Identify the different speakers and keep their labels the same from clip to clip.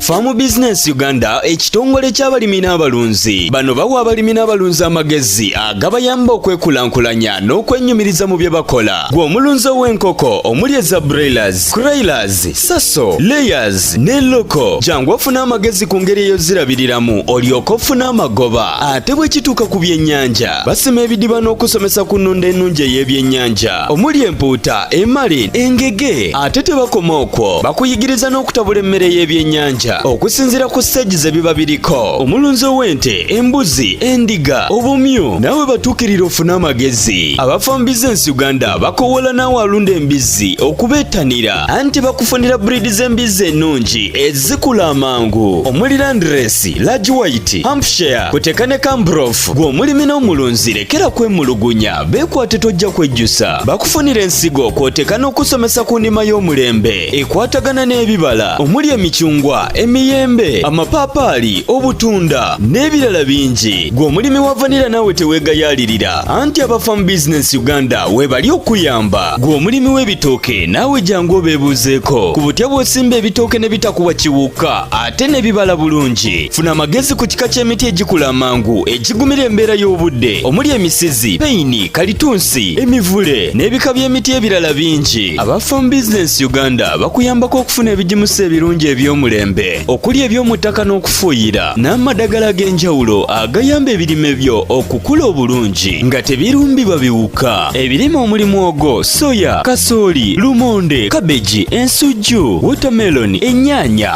Speaker 1: Farm Business Uganda ekitongole ky'abalimi n'abalunzi bano bawa abalimi n'abalunzi amagezi agabayamba okwekulaakulanya n'okwenyumiriza mu bye bakola gwe omulunzi ow'enkoko omuli eza broilers, croilers, saso, layers ne loko jangu ofuna amagezi ku ngeri eyozirabiriramu olyoka ofuna amagoba ate bwe kituuka ku byennyanja basima ebidiba n'okusomesa ku nnunda ennungi ey'ebyennyanja omuli empuuta emali engege ate tebakoma okwo bakuyigiriza n'okutabula emmere y'ebyennyanja okusinziira ku siteegi ze biba biriko omulunzi ow'ente embuzi endiga obumyu naawe batuukirira ofune amagezi abafa mu bizinensi uganda bakowoola naawe alunda embizzi okubeettanira anti bakufunira buriidi z'embizzi ennungi ezikula amangu omuli landiresi lagi wayiti hampshire kuteka ne kambrof gw'omulimi n'omulunzi lekera kwemulugunya Beekwate tojja kwejjusa bakufunira ensigo kw'oteeka n'okusomesa ku ndima y'omulembe ekwatagana n'ebibala omuli emicungwa emiyembe amapaapaali obutunda n'ebirala bingi gwe omulimi wa vanira naawe teweegayaalirira anti abafamu bizinensi uganda weebali okuyamba gwe omulimi w'ebitooke naawe jangu obeebuuzeeko ku butya bw'osimba ebitooke ne bitakuwa kiwuka ate ne bibala bulungi funa amagezi ku kika ky'emiti egikula amangu egigumira embeera y'obudde omuli emisizi peyini kalitunsi emivule n'ebika by'emiti ebirala bingi aba farm business uganda bakuyambako okufuna ebigimusa ebirungi eby'omulembe okuli eby'omu ttaka n'okufuuyira n'amadagala ag'enjawulo agayamba ebirime byo okukula obulungi nga tebirumbibwa biwuka ebirime omuli mwogo soya kasooli lumonde kabeji ensujju wotameloni ennyaanya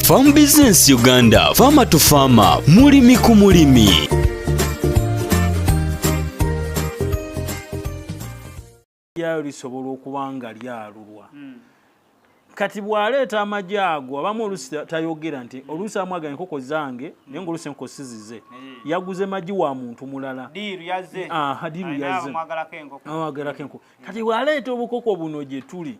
Speaker 1: Farm Business Uganda, Farmer to Farmer, mulimi ku mulimi.
Speaker 2: Lyayo lisobola okuba nga lyalulwa. Hmm. Kati bw'aleeta amagi ago abamu oluusi tayogera nti oluusi amwaga enkoko zange naye ngaoluusi enkoko sizize eh. yaguze magi wa muntu mulala
Speaker 3: diiru yazze
Speaker 2: amwagalako enkoko kati bw'aleeta obukoko buno gye tuli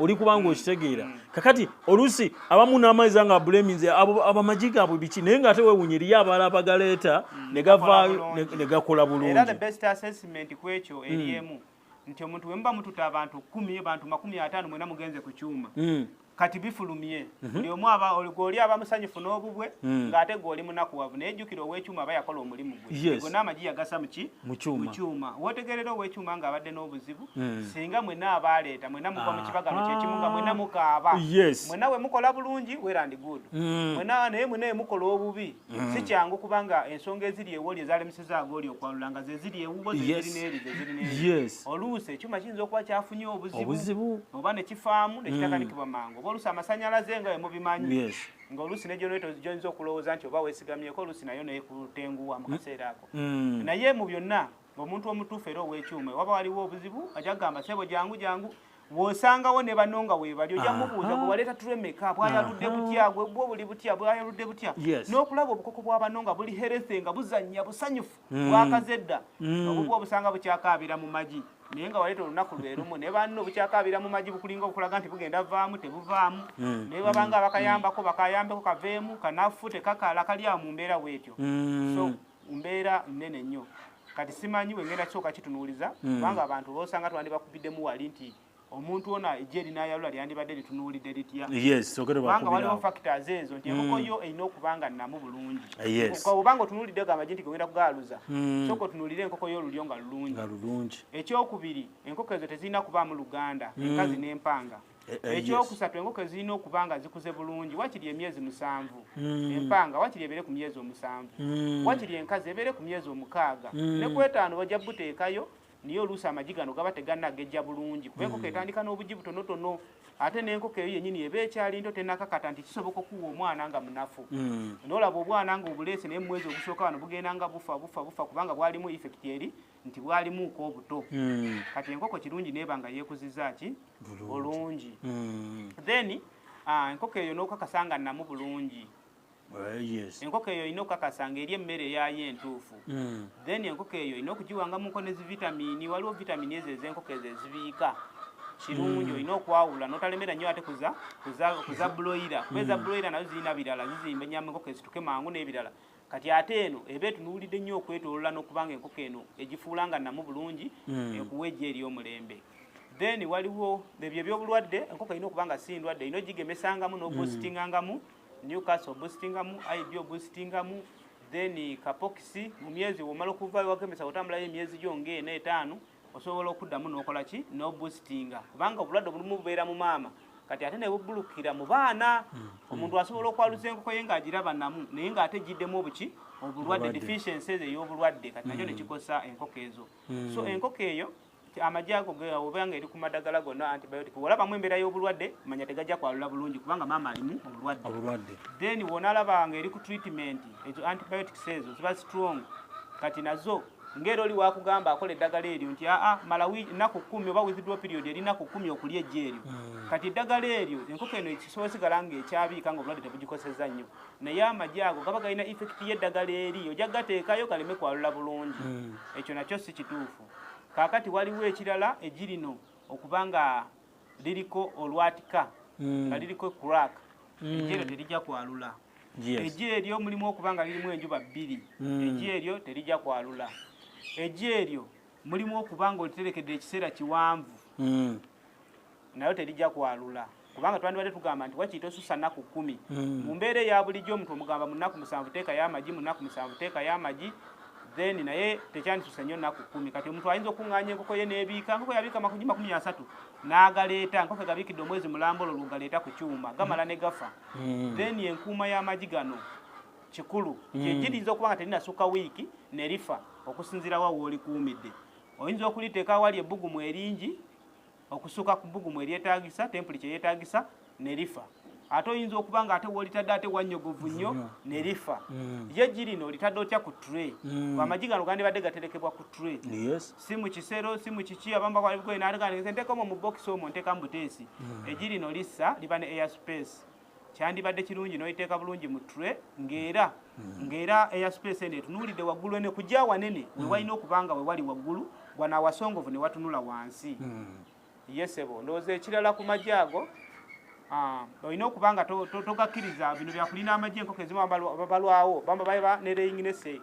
Speaker 2: oli kubanga mm. okitegeera mm. kakati oluusi abamu n'amaiza nga abulaminzi abamagi gaabwe biki naye ngaate wewunya eriyo abaala abagaleeta mm. ne gavaayo ne gakola bulungiekyo
Speaker 3: eryemu nti omuntu wemuba mututa abantu kumi abantu makumi ataano mwena mugenze ku kyuma kati bifulumye mhm. buli omu aba oli aba musanyufu n'obubwe mm. ng'ate gwoli munakuwavu naye jjukira ow'ekyuma aba yakola omulimu gwe gona amagi yagasa muki mu kyuma wotegerera ow'ekyuma ng'abadde n'obuzibu Hmm. singa mwena abaleeta mwena muva mu ah. kibagano kyekimu nga mwena mukaaba mwena we mukola bulungi werandi good hmm. mwena naye mwena emukola obubi hmm. si kyangu kubanga ensonga eziri ewoli ezalemusizaaga oli okwalula nga zeziri ewuwo zeziri neeri zeziri neeri oluusi ekyuma kiyinza okuba kyafunye obuzibu oba nekifaamu nekitakanikibwa mangu oba oluusi amasanyalaze nga wemubimanyi nga oluusi negyonoeto gyoyinza okulowooza nti oba wesigamyeko oluusi nayo nekutenguwa mu kaseera ako naye mu byonna omuntu omutuufu era ow'ekyuma waba waliwo obuzibu ajja kugamba sebo jangu jangu wosangawo ne bano nga webali ojja mubuuza gwe waleeta tulemeka bwayaludde butya gwe bwo buli butya bwayaludde butya n'okulaba obukoko bwa bano nga buli herethe nga buzannya busanyufu mm. bwakazedda mm. obubwa obusanga bukyakaabira mu magi naye nga waleeta olunaku lwerumu naye banno bukyakaabira mu magi bukulinga obukulaga nti bugenda vaamu tebuvaamu mm. naye babanga bakayambako bakayambeko kaveemu kanafu tekakala kalyawo mu mbeera weetyo so mbeera nnene nnyo kati simanyi wengenda kyoka kitunuuliza hmm. kubanga abantu osanga twandibakubiddemu wali nti omuntu ona ejje erinayalula lyandibadde litunuulidde litya kubanga waliwo factors ezo nti enkoko hmm. yo erina okubanga nnamu bulungi obanga otunuulidde gamagi nti gogenda kugaaluza hmm. soka otunuulire enkoko yo olulyo nga lulungi ekyokubiri enkoko ezo tezirina kubaamu luganda enkazi n'empanga Eh, eh, ekyokusatu enkoko ezirina okuba nga zikuze bulungi wakiri emyezi musanvu hmm. empanga wakiri ebeere ku myezi omusanvu hmm. wakiri enkazi ebeere ku myezi omukaaga hmm. ne kwetaano bajja buteekayo niye oluusi amagi gano gaba teganagejja bulungi kuba enkoko etandika n'obugi butonotono ate n'enkoko eyo yenyini eba ekyali nto tenakakata nti kisoboka okuwa omwana nga munafu nolaba obwana nga obuleese naye mumwezi ogusooka wano bugenda nga bufa bufa bufa kubanga bwalimu effect eri nti bwalimuuka obuto mm. kati enkoko kirungi neeba nga yeekuziza ki bulungi mm. then uh, enkoko eyo n'okakasa nga namu bulungi Uh, enkoko eyo olina okukakasa nga eri emmere eyayo entuufu hmm. then enkoko eyo olina okugiwanga muko ne zivitamini waliwo vitamini ezo ezenkoko ezo ezibiika kirungi hmm. olina okwawula notalemera nnyo ate kuza buloira kuba eza hmm. buloira nazo zirina birala zizimba enyama enkoko ezituke mangu n'ebirala kati ate eno eba etunuulidde nnyo okwetoolola n'okubanga enkoko eno egifuula nga namu bulungi hmm. ekuwa ejja eri omulembe then waliwo ebyo ebyobulwadde enkoko erina okuba nga si ndwadde erina ogigemesangamu n'obusitingangamu hmm. newcast obusitingamu ib obusitingamu then kapokisi mu myezi womala okuva wagemesa otambulayo emyezi gyo ngaena etaano osobola okuddamu nokola ki nobusitinga kubanga obulwadde obulimu bubeera mu maama kati ate nebubulukira mu baana hmm. omuntu asobola okwaluza enkoko ye ngaagiraba namu naye ngaate giddemu obuki obulwadde deficiency ezo eyobulwadde kati nakyo hmm. nekikosa enkoko ezo hmm. so enkoko eyo amagi ago oba nga eri ku madagala gonna antibiotic wolabamu embeera y'obulwadde manya tegajja kwalula bulungi kubanga maama alimu obulwadde then wonalaba nga eri ku treatment ezo antibiotics ezo ziba strong kati nazo ng'era oli wakugamba akola eddagala eryo nti aa malawi nnaku kkumi oba withdro period eri nnaku kkumi okulya ejja eryo hmm. kati eddagala eryo enkoko eno ekisobola sigala nga ekyabiika nga obulwadde tebugikoseza nnyo naye amagi ago gaba galina effekiti y'eddagala eri ojja gateekayo galeme kwalula bulungi hmm. ekyo nakyo si kituufu kaakati waliwo ekirala egirino okuba nga liriko olwatika mm. nga liriko crack mm. ejero terija kwalula eji eryo mulimu okuba nga lirimu enjuba bbiri mm. eji eryo terija kwalula eji eryo mulimu okuba nga oliterekedde ekiseera kiwanvu nayo terija kwalula kubanga twandibadde tugamba nti wakiyita osusa nnaku kkumi mu mbeera eya bulijjo omuntu omugamba mu nnaku musanvu teekayo amagi mu nnaku musanvu teekayo amagi then naye tekyandisuse nnyo naku kumi kati omuntu ayinza okuŋŋaanya enkoko ye n'ebiika nkoko yabiika makuji makumi asatu n'agaleeta nkoko egabiikidde omwezi mulamba olwo lwogaleeta ku kyuma gamala ne gafa hmm. then enkuuma y'amagi gano kikulu hmm. kyegiyinza okuba nga terinasukka wiiki nerifa okusinzirawa woolikuumidde oyinza okuliteeka awali ebbugumu eringi okusuka ku bbugumu eryetaagisa tempuli kye yeetaagisa ne lifa ate oyinza okuba nga ate wolitadde ate wanyogovu nnyo ne lifa mm. ye girino olitadde otya ku tre mm. amagi gano gandibadde gaterekebwa ku tre si mu kisero si mu kiki abamba kwalibukoye naaliganeese nteekamu mu bokisi omwo nteekamu buteesi mm. egirino lissa liba ne air space kyandibadde kirungi noyiteeka bulungi mu tre ngaera hmm. ngaera eya space eno etunuulidde waggulu ene kujja wanene hmm. wewalina okuba nga wewali waggulu bwanawasongovu ne watunula wansi hmm. yesebo ndowooza ekirala ku magye ago ah, olina okuba nga togakkiriza bino byakulina amagye enkoko ezimu babalwawo bamba baba nereyinginese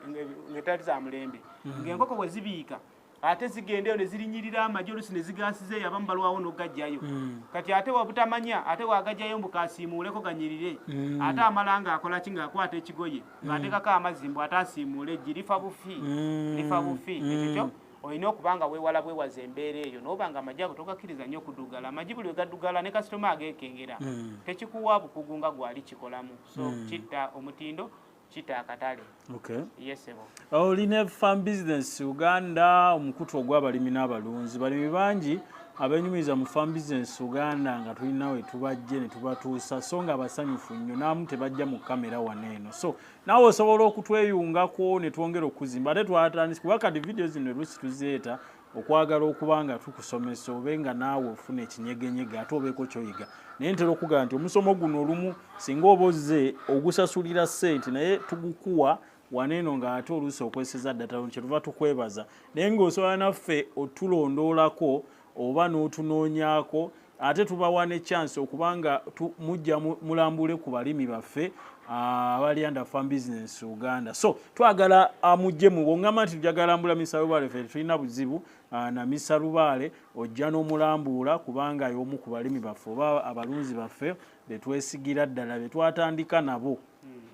Speaker 3: ngetali za mulembe ngaenkoko wezibiika ate zigendeyo ne zirinyirira amagye olusi ne zigaasiza eyo abamu balwawo n'ogajjayo mm. kati ate wabutamanya ate wagajjayo mbu kasiimuuleko ganyirire mm. ate amala ng'akola ki ng'akwata ekigoye mm. ng'ateekako amazzi mbu ate asiimuule eggi lifa bufi mm. lifa bufi mm. ekyo kyo olina okuba nga weewala bwewaza embeera eyo nooba nga amagi ago togakkiriza nnyo okuddugala amagi buli wegaddugala ne kasitoma ageekengera mm. tekikuwa bukugu nga gwali kikolamu so mm. kitta omutindo kita akatale okay. yesebo olina oh,
Speaker 2: farm business uganda omukutu ogw'abalimi n'abalunzi balimi bangi abenyumiriza mu farm business uganda nga tulina we tubajje ne tubatuusa so nga abasanyufu nnyo naamu tebajja mu kamera wano eno so naawe osobola okutweyungako ne twongera okuzimba ate twatandisi kuba kati vidiyo zino olusi tuzeeta okwagala okuba nga tukusomesa obe nga naawe ofuna ekinyegenyege ate obeeko kyoyiga naye ntera okugamba nti omusomo guno olumu singa oba ozze ogusasulira ssente naye tugukuwa waneeno nga ate oluusi okweseza ddata lon kyetuva tukwebaza naye ng'osobola naffe otulondoolako oba n'otunoonyako ate tubawa ne chance okubanga mujja mulambule ku balimi baffe ah, abali under farm business uganda so twagala ah, mujje mu wongamba nti tujagalambula misalubaale fe tulina buzibu ah, na misalubaale ojja n'omulambuula kubanga y'omu ku balimi baffe oba abalunzi baffe betwesigira ddala betwatandika nabo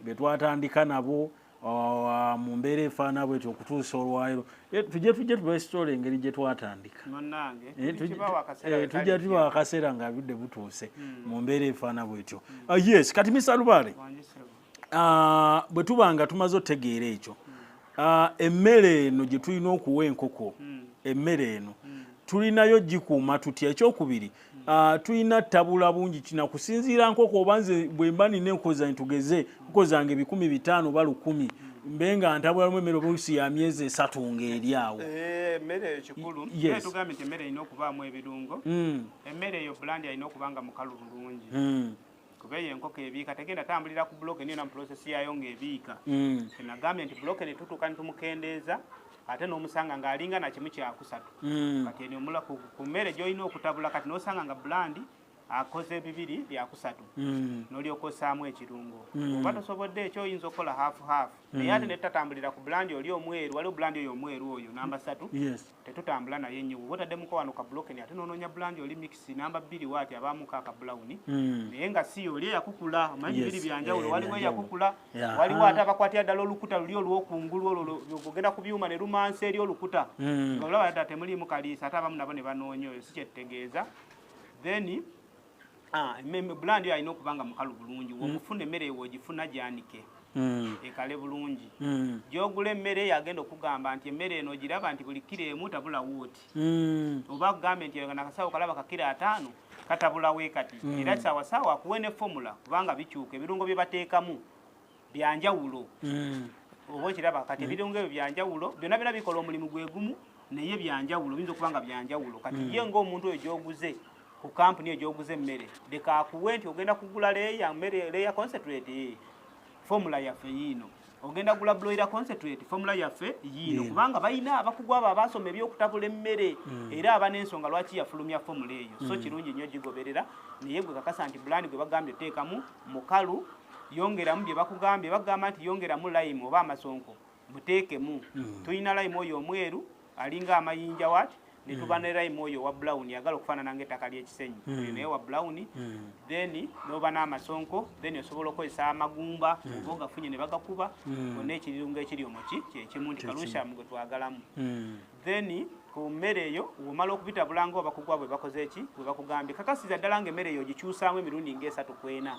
Speaker 2: betwatandika nabo mu mbeera efaana bwetyo okutuusa olwaliro eh, tujja tujja tubasitoola engeri gye twatandika eh, eh, tujja tuba akaseera nga budde butuuse hmm. mu mbeera efaana bwetyo hmm. ah, yes kati misalubaale ah, bwe tuba nga tumaze otegeera ekyo hmm. ah, emmere eno gye tulina okuwa enkoko emmere eno tulinayo gikuuma tutya ekyokubiri Ah, tulina tabula bungi kina kusinziira nkoko oba nze bwemba nina enkoza ntugeze nkozanga ebikumi bitaano oba lukumi mbe nga ntabula lumu emmere oluusi ya myezi esatu ngaeri awo eh, emmere eyo kikulu
Speaker 3: tugambye nti emmere erina okubaamu ebirungo hmm. emmere eyo bulandi alina okuba nga mukalu bulungi hmm. kuba eyo enkoko ebiika tegenda tambulira ku buloke niyo na muprosesi yaayo ng'ebiika mm. enagambye nti buloke ne tutuuka ne tumukendeeza ate n'omusanga ng'alinga na kimu kyakusatu mm. kati eno omula ku mmere gy'olina okutabula kati n'osanga nga bulandi akoze bibiri byakusatu mm. n'olyoka osaamu ekirungo oba tosobodde ekyo oyinza okukola haafu haafu naye ate ne tutatambulira ku bulandi oli omweru waliwo bulandi oyo omweru oyo namba satu tetutambula naye nnyo bwoba otaddemukko wano ka bulokeni ate nononya bulanja oli mikisi namba bbiri waati abaamuko aka bulawuni hmm. naye nga si oli eyakukula omanyi bibiri byanjawulo eh, waliwo eyakukula waliwo ate abakwatira ddala olukuta luli olwokungulu olwo ogenda ku byuma ne lumansa eri olukuta hmm. nga olaba ddala temuliimu kaliisa ate abamu nabo ne banoonya oyo si kyetutegeeza then Ah, bulandi oyo alina okuba nga mukalu bulungi mm. womufuna emmere ewo ogifuna gyanike mm. ekale bulungi mm. gyogula emmere eyo agenda okugamba nti emmere eno ogiraba nti buli kiro emu tabulawo oti oba kugambe nti nakasawo kalaba kakiro ataano katabulawo ekati era saawa saawa akuwe ne fomula kubanga bikyuka ebirungo bye bateekamu byanjawulo mm. oba okiraba kati ebirungo ebyo byanjawulo byonna byona bikola omulimu gwe gumu naye byanjawulo biyinza okuba nga byanjawulo kati mm. ye ngaomuntu oyo gyoguze ku kampuni eyo gyoguze emmere leka akuwe nti ogenda kugula leya mmere leya concentrate eh, fomula yaffe yiino ogenda gula bloira concentrate fomula yaffe yiino kubanga balina abakugu abo abasoma ebyokutabula emmere mm. era aba n'ensonga lwaki yafulumya fomula eyo so mm. kirungi nnyo gigoberera naye gwe kakasa nti bulani gwe bagambye oteekamu mukalu yongeramu bye bakugambye bagamba nti yongeramu lime oba amasonko muteekemu hmm. tulina lime oyo omweru alinga amayinja wati netuba ne lime oyo wa brown yagala okufaanana nga ettaka ly'ekisenyi hmm. naye wa brown hmm. then noba n'amasonko then osobola okukozesa amagumba oba ogafunye ne bagakuba onna ekirungo ekiri omuki kyekimu nti kalushamu gwe twagalamu then ku mmere eyo womala okubitabula nga obakugwa bwe bakoze eki bwe bakugambye kakasiza ddala nga emmere eyo ogikyusaamu emirundi ngaesatu kwena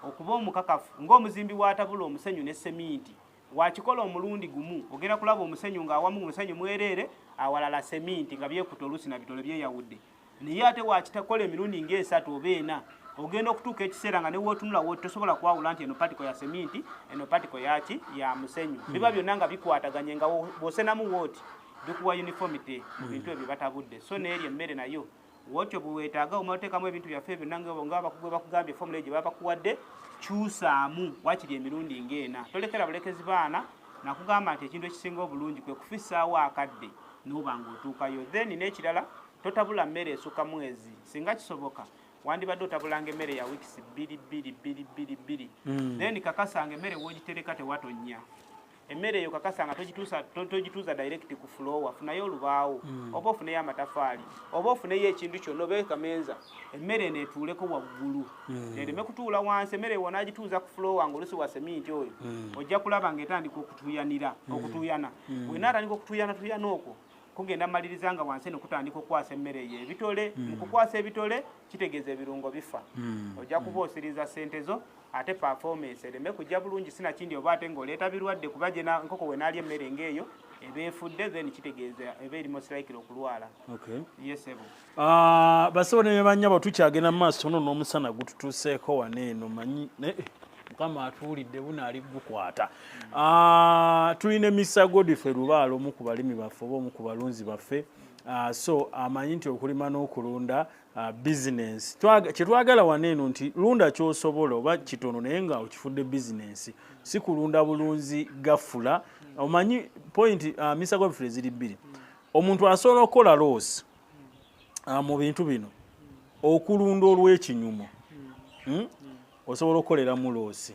Speaker 3: okuba omukakafu ng'omuzimbi watabula omusenyu ne seminti wakikola omulundi gumu ogenda kulaba omusenyu ng'awamu omusenyu mwereere awalala seminti nga byekuta oluusi na bitole byeyawudde naye ate wakitakola emirundi ngaesatu oba ena ogenda okutuuka ekiseera nga newotunula wo tosobola kwawula nti eno patiko ya seminti eno patiko yaki ya musenyu hmm. biba byonna nga bikwataganye nga bwosenamu wooti bikuwa uniformity mu hmm. bintu ebyo batabudde so neeri emmere nayo wotyo bwewetaaga omaotekamu ebintu byaffe ebyo nangabakuge bakugambye fomula egyo babakuwadde kyusaamu wakiri emirundi ngaena tolekera bulekezi baana nakugamba nti ekintu ekisinga obulungi kwe kufisaawo akadde noba nga otuukayo then n'ekirala totabula mmere esukka mwezi singa kisoboka wandibadde otabulanga emmere ya wiikisi bbiri bbiri bbiri bbiri bbiri hmm. then kakasanga emmere wogitereka tewatonnya emmere eyo kakasanga togituuza direct ku fulowa funayo olubaawo hmm. oba ofuneyo amatafaali oba ofuneyo ekintu kyonna oba ekamenza emmere eno etuuleko waggulu hmm. ereme kutuula wansi emmere ewo nagituuza ku fulowa ngaolusi wa seminti oyo ojja kulaba nga etandika okutuyanira okutuuyana mm. wena atandika okutuyana tuyana okwo kugenda maliriza nga wansi eno kutandika okukwasa emmere eyo ebitole mm. mukukwasa ebitole kitegeeza ebirungo bifa mm. ojja mm. kuba osiriza sente zo ate performance ereme kujja bulungi sinakindi oba ate ngaoleeta birwadde kuba gye nkoko wenaali emmere ngaeyo eba efudde then kitegeeza eba eri mosirikire okulwala okay. yesebo Ah, basebo
Speaker 2: ne banyabo tukyagenda mu maaso ono n'omusana gututuuseeko wano eno manyi eh, mukama atuwulidde buno ali gukwata ah, tulina emisa godife lubaala omu ku balimi baffe oba omu ku balunzi baffe ah, so amanyi nti okulima n'okulunda bizinensi kyetwagala wano eno nti lunda kyosobola oba kitono naye nga okifudde bizinensi si kulunda bulunzi gafula omanyi point misa godife ziri bbiri omuntu asobola okukola loosi ah, mu bintu bino okulunda olw'ekinyumo hmm? osobola okukolera muloosi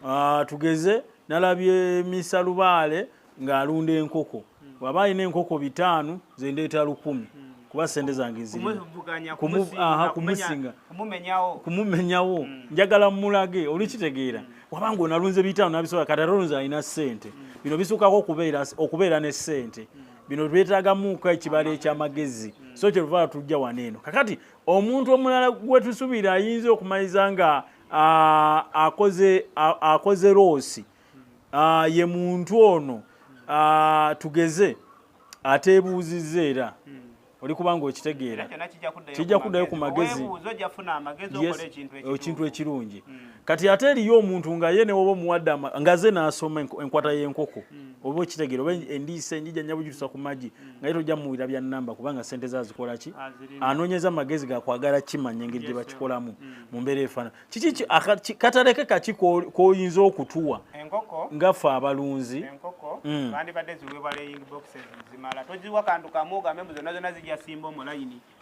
Speaker 2: ah, tugeze nalabye misa lubaale ng'alunda enkoko waba alina enkoko bitaano zendeeta lukumi kuba sente zange zirikumusinga kumumenyawo mm. njagala mulage olikitegeera mm. wabanga onalunze bitaano nabisobola kati ate olunze alina sente mm. bino bisuukako okubeera ne sente bino byetagamuko ekibalo ekyamagezi so kyeluvala tujja wano eno kakati omuntu omulala gwetusubiira ayinza okumaliza nga akoze akoze loosi ye muntu ono tugeze ateebuuzizza era oli kubanga okitegeera kijja kuddayo ku magezi ekintu ekirungi hmm. kati ate eriyo omuntu nga ye newoba omuwadde nga ze n'asoma enkwata y'enkoko hmm. oba okitegeera oba endiisa enjija nyabujutusa ku magi hmm. nga ye tojja muwulira bya namba kubanga sente ze azikola ki anoonyeza magezi gakwagala kimanya engeri gye bakikolamu mu mbeera efaanana kiki kataleke kaki koyinza okutuwa ngaffe abalunzi
Speaker 3: mm.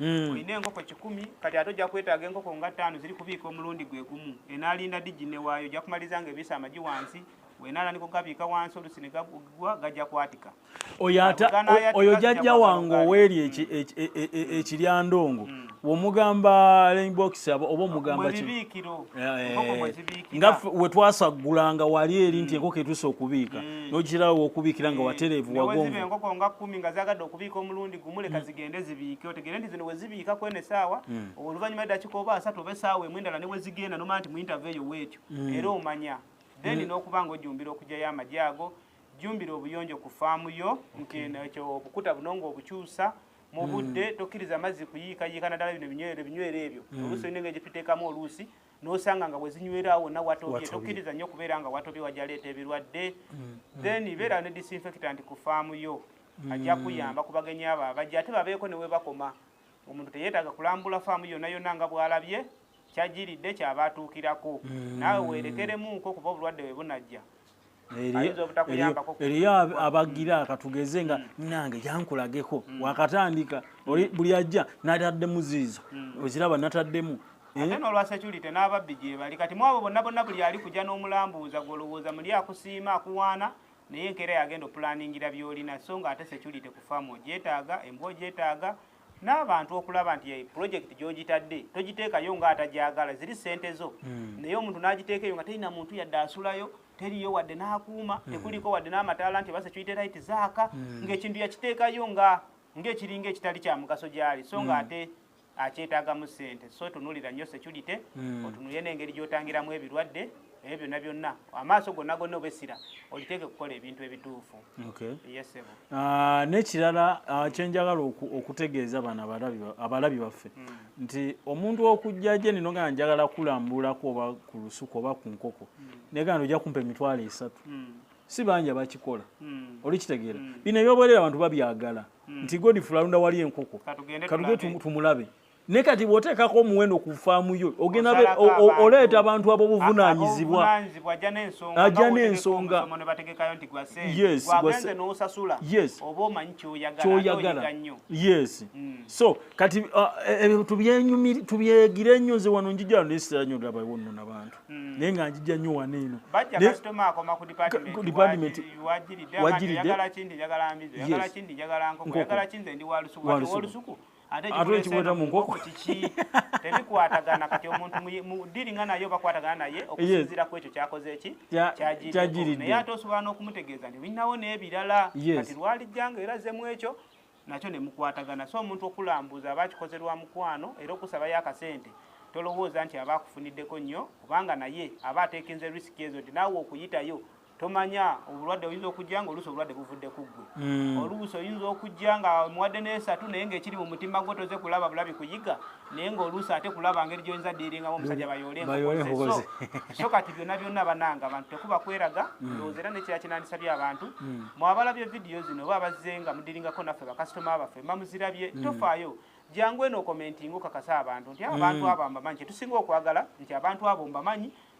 Speaker 3: mm. olina enkoko kikumi kati ate ojja kwetaaga enkoko nga ttaano ziri kubiika omulundi gwe gumu enaalinda digi newaayo ojja kumaliza nga ebiisa amagi wansi wenaala nikugabiika wansi olusi negagwa gajja kwatika
Speaker 2: oyo jajja wange oweeri ekiryandongo womugamba rainbox oba omugamba eh, eh. nga wetwasaggula nga wali eri nti mm. enkoko etuuse okubiika mm. nogirawo okubiikira nga eh, watereevu wagonvuenkoko nga kumi nga
Speaker 3: zagadde okubiika omulundi gumu leka mm. zigende zibiike otegere nti zino wezibiika kwena esaawa oluvanyuma edakika oba asatu oba esaawa emu endala newezigenda nomanya nti muintaveyo weetyo era omanya then nokuba nga ojumbira okujayo amagye ago jjumbira obuyonjo ku faamu yo nti nekyo obukuta buno ng'obukyusa mu budde mm. tokkiriza amazzi kuyiikayiika naddala bino ebinywero ebinywero ebyo mm. oluusi olina engeri gyetutekamu oluusi nosanga nga wezinywera wonna watobye tokkiriza nnyo okubeera nga watobye wajaleeta ebirwadde mm. then beera ne disinfectant ku faamu yo ajja kuyamba ku bagenyi abo abajja ate babeeko ne webakoma omuntu teyeetaaga kulambula faamu yonna yonna nga bwalabye kyajiridde kyaba atuukirako naawe weerekeremuuko kuba obulwadde we bunajja
Speaker 2: eriyo abagira katugeze nga nange yankulageko mm. wakatandika mm. buli ajja nataddemu ziizo mm. oziraba nataddemu eh? ate nolwa
Speaker 3: security n'ababbi gyebali kati mwabo bonna bonna buli ali kuja n'omulambuuza gwolowooza muli akusiima akuwaana naye enkeera yagenda opulaningira byolina so nga ate security ku faamu ogyetaaga embwa ogyetaaga n'abantu okulaba nti eh, pulojekiti gy'ogitadde togiteekayo nga atagyagala ziri ssente zo hmm. naye omuntu n'agiteeka eyo nga terina muntu yadde asulayo teriyo wadde n'akuuma hmm. tekuliko wadde n'amataala nti oba security light zaaka hmm. ng'ekintu yakiteekayo nga ng'ekiringa ekitali kya mugaso gyali so nga ate akyetaagamu ssente so tunulira nnyo security otunulire n'engeri gy'otangiramu ebirwadde ebyo byonna byonna amaaso gonna gonna oba essira oliteeke kukola ebintu ebituufu yesebo ah,
Speaker 2: n'ekirala ah, kyenjagala okutegeeza bano abalabi baffe hmm. nti omuntu okujja gye nino nga njagala kulambulako oba ku lusuku oba ku nkoko hmm. negana ojja kumpa emitwalo esatu hmm. si banja bakikola olikitegeera bino ebyoboerera abantu babyagala nti godifula alunda wali enkoko katuge tumulabe ne kati bwoteekako omuwendo ku faamu yo ogenda oleeta abantu abobuvunanyizibwa ajja n'ensonga kyoyagala yes mm. so kati uh, e, e, tubyegire ennyo nze wano njijjalo nesitera nyo laba wonno nabantu mm. naye nga njijja nnyo wano eno department wajiridde ate ekimuleeta mu nkoko kiki tebikwatagana kati omuntu mudiringa naye oba kwatagana naye okusinzira ku ekyo kyakoze eki kyagiridde naye ate osobola n'okumutegeeza nti olinawo n'ebirala kati lwalijjanga era zemu ekyo nakyo ne mukwatagana so omuntu okulambuza aba akikoze lwa mukwano era okusabayo akasente tolowooza nti aba akufuniddeko nnyo kubanga naye aba ateekenze risiki ezo nti naawe okuyitayo tomanya obulwadde oyinza okujja nga oluusi obulwadde buvudde ku ggwe hmm. oluusi oyinza okujja nga omuwadde n'esatu naye ngaekiri mu mutima gwo toze kulaba bulabi kuyiga naye ngaoluusi ate kulaba ngeri gyoyinza diiringamu omusajja bayooleso so kati byonna byonna bananga abantu tekuba kweraga hmm. ndowooza era nekira kinandisabye abantu hmm. mwabalabye vidiyo zino oba abazze nga mudiringako naffe bakasitoma baffe mamuzirabye tofaayo jangu eno okomentinga okakasa abantu nti abantu abo mbamanyi kyetusinga okwagala nti abantu abo mbamanyi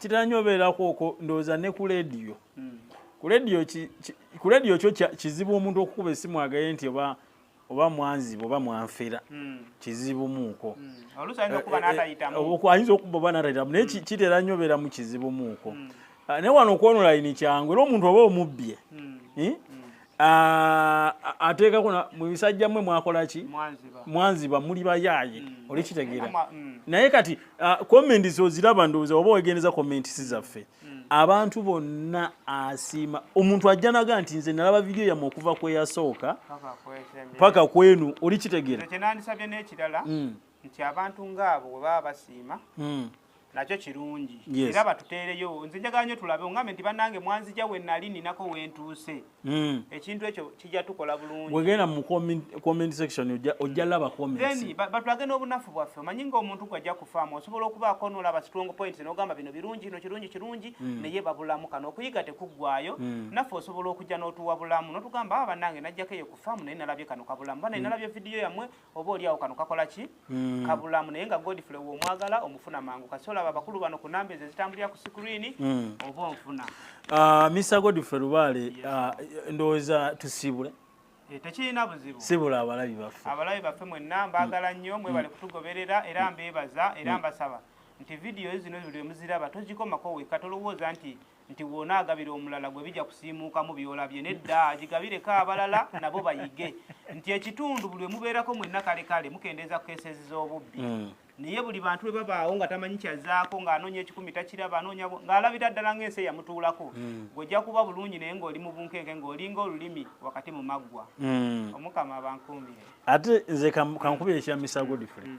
Speaker 2: kitera nyo obeerako okwo ndowooza ne ku lediyo hmm. ku lediyo kyo kizibu omuntu okukuba esimu agaye nti oba oba mwanziba oba mwanfera hmm. kizibu muuko ayinza okuba oba natayitamu naye hmm. kitera nyo obeeramu kizibu muuko ah, naye wano okwonolayini kyangu era omuntu oba omubbye eh? Ah, ateekako mu bisajja mmwe mwakola ki mwanziba muli bayaaye mm. olikitegeera mm. naye kati ah, comments oziraba ndowooza oba wegendeza comments zaffe mm. abantu bonna asiima omuntu ajja naga nti nze nalaba vidiyo yamwe okuva kweyasooka paka kwenu olikitegeera
Speaker 3: nti abantu ngaabo webaba basiima nakyo kirungi era batuteereyo nze njagala nyo tulabe ongambe nti banange mwanzija we nali ninako wentuuse hmm. ekintu ekyo kijja tukola bulungi wegenda mu
Speaker 2: comment section ojja hmm. laba comments batulage n'obunafu
Speaker 3: bwaffe omanyi ng'omuntu gwajja kufaamu osobola okubaako n'olaba strong points n'ogamba bino birungi no kirungi kirungi hmm. naye babulamu kano okuyiga tekuggwayo naffe osobola okujja n'otuwa bulamu n'otugamba aba ah, banange najjako eyo kufaamu naye nalabye kano kabulamu banaye nalabye vidiyo yammwe oba oli awo kano kakola ki mm. kabulamu naye nga godfrey womwagala omufuna mangu kasi olaba abakulu bano ku namba ezo ezitambulira ku sikuriini mm. oba onfuna uh, ah, mr
Speaker 2: godfrey lubaale yes. uh, ah, ndowooza tusiibule eh, tekirina
Speaker 3: buzibu sibula abalabi baffe
Speaker 2: abalabi baffe mwenna
Speaker 3: mbaagala mm. nnyo mwebale mm. kutugoberera era mm. mbeebaza era mm. mbasaba nti vidiyo zino zuli emuziraba tozikomako weka tolowooza nti nti wona agabira omulala gwe bijja kusiimuukamu byolabye nedda agigabireko abalala nabo bayige nti ekitundu buli wemubeerako mwenna kale kale mukendeeza ku keseezi z'obubbi hmm. naye buli bantu bwe babaawo nga tamanyi kyazaako ng'anoonya ekikumi takiraba anoonya ng'alabira ddala ng'ensi eyamutuulako hmm. ng'ojja kuba bulungi naye ng'oli mu bunkenke ng'olinga olulimi wakati mu maggwa hmm. omukama abankuumire ate nze
Speaker 2: kankubira ekya misago different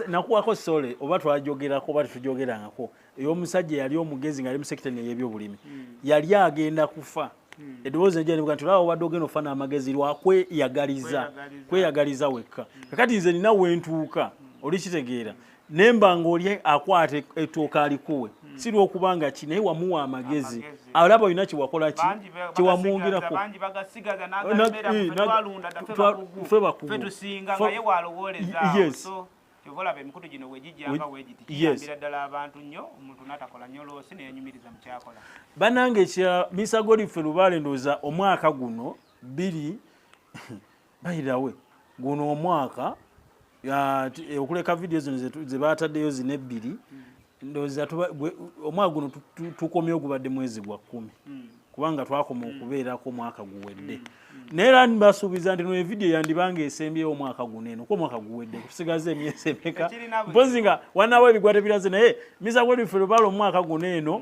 Speaker 2: nakuwako sole oba twajogerako oba tetujogerangako ey'omusajja eyali omugezi ng'ali mu sekita eno ey'ebyobulimi hmm. yali agenda kufa hmm. eddoboozi nejja nibuga nti olaba obadde ogenda okufa n'amagezi lwakweyagaliza kweyagaliza wekka hmm. kakati nze nina wentuuka olikitegeera nemba ng'oli akwata ettooka alikuwe si lwokuba nga ki naye wamuwa amagezi alaba olina kyewakola ki kyewamwongerako
Speaker 3: kyova olaba emikutu gino wegijjanga wegiti kiyambira ddala abantu nnyo omuntu natakola nnyo loosi neyanyumiriza mukyakola banange kya
Speaker 2: misagoli ffe lubaale ndooza omwaka guno biri bayirawe guno omwaka okuleka vidiyo zino zebataddeyo zino ebbiri hmm. ndowooza omwaka guno tukomye ogubadde mwezi gwa kkumi hmm. kubanga twakoma hmm. okubeerako omwaka guwedde hmm. naye era nibasuubiza nti noevidiyo yandibanga esembyewo omwaka guno eno kuba omwaka guwedde kusigaza emyezi emeka mpozi nga wanawo ebigwa tebiraze naye miza gwerife lubala omwaka guno eno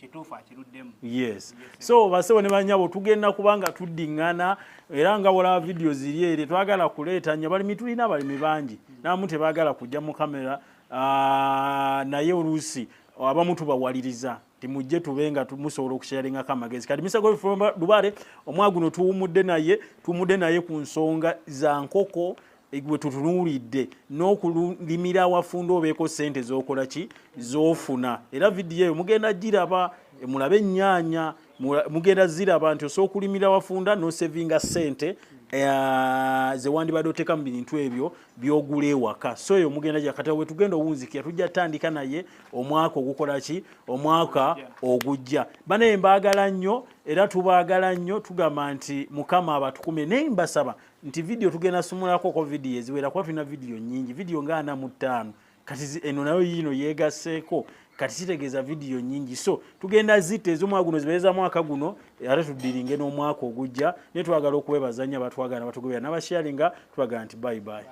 Speaker 3: kituufu akiruddemu yes so
Speaker 2: basebo ne banyabo tugenda kubanga tuddingana era nga wala video ziri eri twagala kuleeta nya bali mitulina bali mibangi mm. namu tebagala kujja mu kamera uh, naye oluusi abamu tubawaliriza timujje tube nga musobola okusharingako amagezi kati misa gol lubale omwaguno tuwumudde naye tuwumudde naye ku nsonga za nkoko gwetutunuulidde n'okulimira awafunda obeeko sente zokola ki zofuna era vidiyo eyo mugenda giraba mulabe ennyanya mugenda ziraba nti osobola okulimira awafunda nosevinga sente eh, zewandibadde oteeka mu bintu ebyo byogula ewaka so eyo mugenda gyakata wetugenda owunzikira tujja tandika naye omwaka ogukola ki omwaka ogujja banaye mbaagala nnyo era tubaagala nnyo tugamba nti mukama abatukume naye mbasaba nti vidiyo tugenda sumulako ko vidiyo eziwera kuba tulina vidiyo nyingi vidiyo nga ana mu ttaano kati eno nayo yiino yeegasseeko kati kitegeeza vidiyo nyingi so tugenda zitta ez'omwaka guno zibeeza mwaka guno ate tuddiringe n'omwaka ogujja naye twagala okubeebazanya batwagala batugobera n'abasharinga twagala nti bayibayi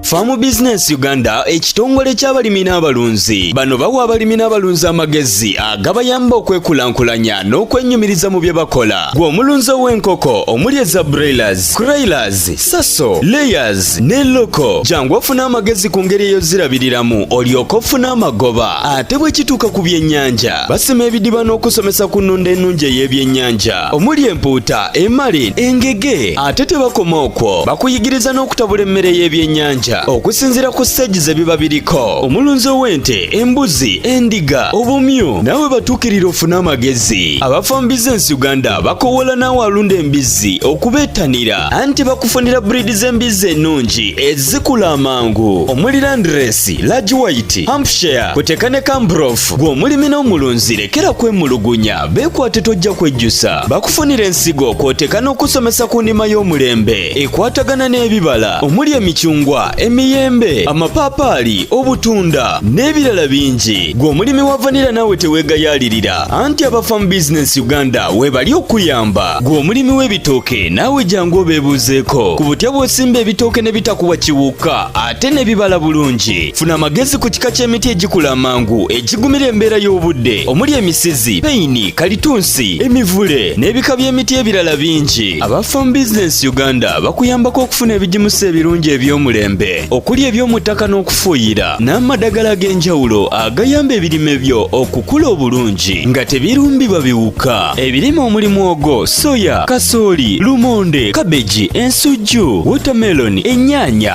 Speaker 1: Farm Business Uganda ekitongole ky'abalimi n'abalunzi bano bawa abalimi n'abalunzi amagezi agabayamba okwekulaakulanya n'okwenyumiriza mu bye bakola gwe omulunzi ow'enkoko omuli eza broilers, croilers, saso, layers ne loko jangu ofune amagezi ku ngeri eyozirabiriramu olyoke ofune amagoba ate bwe kituuka ku byennyanja basima ebidiba n'okusomesa ku nnunda ennungi ey'ebyennyanja omuli empuuta emali engege ate tebakoma okwo bakuyigiriza n'okutabula emmere y'ebyennyanja okusinziira ku siteegi ze biba biriko omulunzi ow'ente embuzi endiga obumyu nawe batuukirira ofune amagezi abafa mu bizinensi uganda bakowoola naawe alunda embizzi okubeettanira anti bakufunira buriidi z'embizzi ennungi ezikula amangu omuli landiresi lagi wayiti hampshire kuteeka ne kambrof gw'omulimi n'omulunzi lekera kwemulugunya Beekwate tojja kwejjusa bakufunira ensigo kw'oteeka n'okusomesa ku ndima y'omulembe ekwatagana n'ebibala omuli emicungwa emiyembe amapaapaali obutunda n'ebirala bingi gwe omulimi wa vanira naawe teweegayaalirira anti aba farm business uganda weebali okuyamba gwe omulimi w'ebitooke naawe jangu obeebuuzeeko ku butya bw'osimba ebitooke ne bitakuwa kiwuka ate n'ebibala bulungi funa amagezi ku kika ky'emiti egikula amangu egigumira embeera y'obudde omuli emisizi peyini kalitunsi emivule n'ebika by'emiti ebirala bingi aba farm business uganda bakuyambako okufuna ebigimusa ebirungi eby'omulembe okuli eby'omu ttaka n'okufuuyira n'amadagala ag'enjawulo agayamba ebirime byo okukula obulungi nga tebirumbibwa biwuka ebirime omuli mwogo soya kasooli lumonde kabeji ensujju wotameloni ennyaanya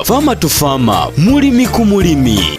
Speaker 1: Farmer to Farmer, mulimi ku mulimi.